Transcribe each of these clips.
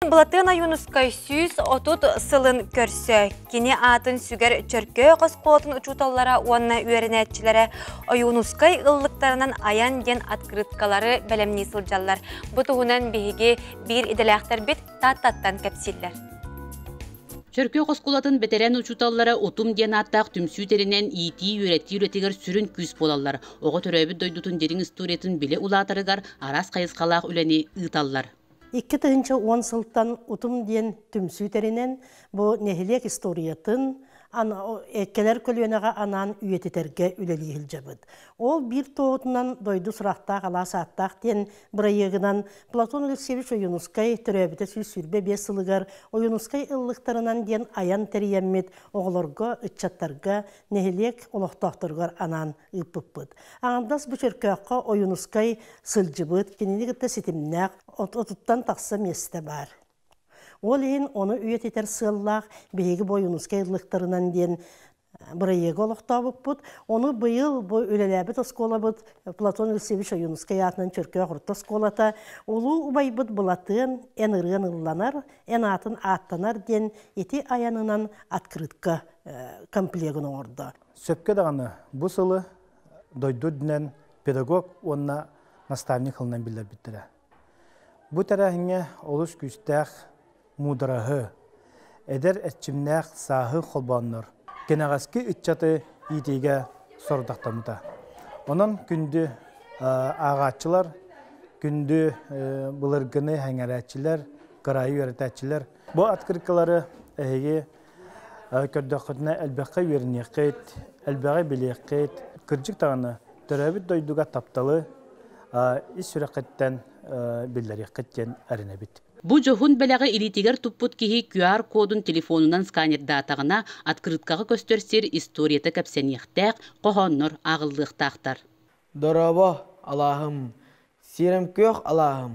Былатыан Ойуунускай сүүс отут сылын көрсө кини аатын сүгэр Чөркөөх оскуолатын учууталлара уонна үөрэнээччилэрэ Ойуунускай ыллыктарынан айан диэн открыткалары бэлэмнии сылдьаллар. Бу туһунан биһиги биир идэлээхтэрбит Тааттаттан кэпсииллэр. Чөркөөх оскуолатын бэтэрээн учууталлара Утум диэн ааттаах түмсүү тэринэн иитии-үөрэтии үлэтигэр сүрүн күүс буолаллар. Оҕо төрөөбүт дойдутун дириҥ историятын билэ улаатарыгар араас хайысхалаах үлэни ыыталлар. Икки тыһыынча уон сылтан утум диэн түмсүү тэринэн, бу нэһилиэк историятын, кэлэр көлүөнэҕэ анаан үйэтитэргэ үлэлии сылдьабыт. Ол биир туоһутунан дойду сурахтаах алаас ааттаах диэн бырайыагынан Платон Алексеевич Ойуунускай төрөөбүтэ сүүс сүүрбэ биэс сылыгар Ойуунускай ыллыктарынан диэн айан тэрийэммит оҕолорго, ыччаттарга, нэһилиэк олохтоохторугар анаан ыыппыппыт. Аҥардас бу Чөркөөххө Ойуунускай сылдьыбыт, кинини кытта ситимнээх отуттан тахса миэстэ баар. Ол иһин ону үйэтитэр сыаллаах биһиги бу Ойуунускай ыллыктарынан диэн бырайыагы олохтообуппут. Ону быйыл бу үлэлээбит оскуолабыт Платон Ильсевич Ойуунускай аатынан Чөркөөх орто оскуолата улуу убайбыт Былатыан эн ырыан ылланар, эн аатын ааттанар диэн ити айанынан открытка комплегын оҥордо. Сөпкө даҕаны бу сылы дойду үрдүнэн педагог уонна наставник қылынан биллэрбиттэрэ. Бу тэрээһиҥҥэ олус күүстээх муудараһы, эдэр эрчимнээх сааһы холбооннор, кэнэҕэски ыччаты иитиигэ сорудахтаммыта. Онон күндү ааҕааччылар, күндү былыргыны эҥэрээччилэр, кыраайы үөрэтээччилэр бу открыткалары эһиги көрдөххүтүнэ элбэххэ үөрэниэххит, элбэҕи билиэххит. Кырдьык даҕаны, төрөөбүт дойдуга тапталы ис сүрэххиттэн биллэриэххит диэн эрэнэбит. Бу дьоһун бэлэҕи илиитигэр туппут киһи QR-кодун телефонунан сканердаатаҕына, открыткаҕа көстөр сир историята кэпсэниэхтээх, хоһооннор ааҕыллыахтаахтар. Дорообо, алааһым, сиэрэм күөх алааһым,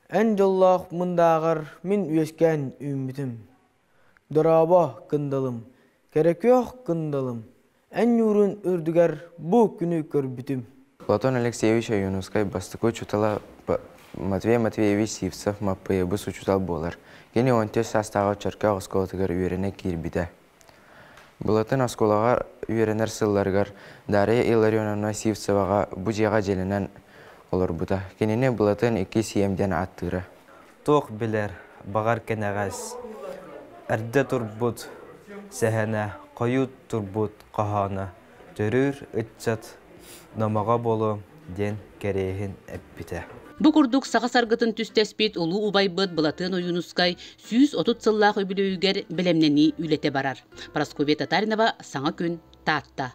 Эн дьоллоох мындааҕар мин үөскээн үүммүтүм. Дорообо кындалым, кэрэ-күөх кындалым, эн ньуурун үрдүгэр бу күнү көрбүтүм. Платон Алексеевич Ойуунускай бастакы учуутала Матвей Матвеевич Сивцев Маппыйабыс учуутал буолар. Кини уон түөрт саастааҕы Чөркөөх оскуолатыгар үөрэнэ киирбитэ. Былатын оскуолаҕа үөрэнэр сылларыгар Дарья Илларионовна Сивцеваҕа бу дьиэҕэ дьэлэнэн олорбута. Кинини Былатын икки сиэм диэн ааттыыра. Туох билэр, баҕар кэнэҕэс, эрдэ турбут сэһэнэ, хойут турбут хоһооно Төрүүр ыччат номоҕо буолуо диэн кэриэһин эппитэ. Бу курдук саха саргытын түстэспит улуу убайбыт Былатыан Ойуунускай сүүс отут сыллаах үбүлүөйүгэр бэлэмнэнии үлэтэ барар. Прасковья Татаринова саҥа күн Таатта.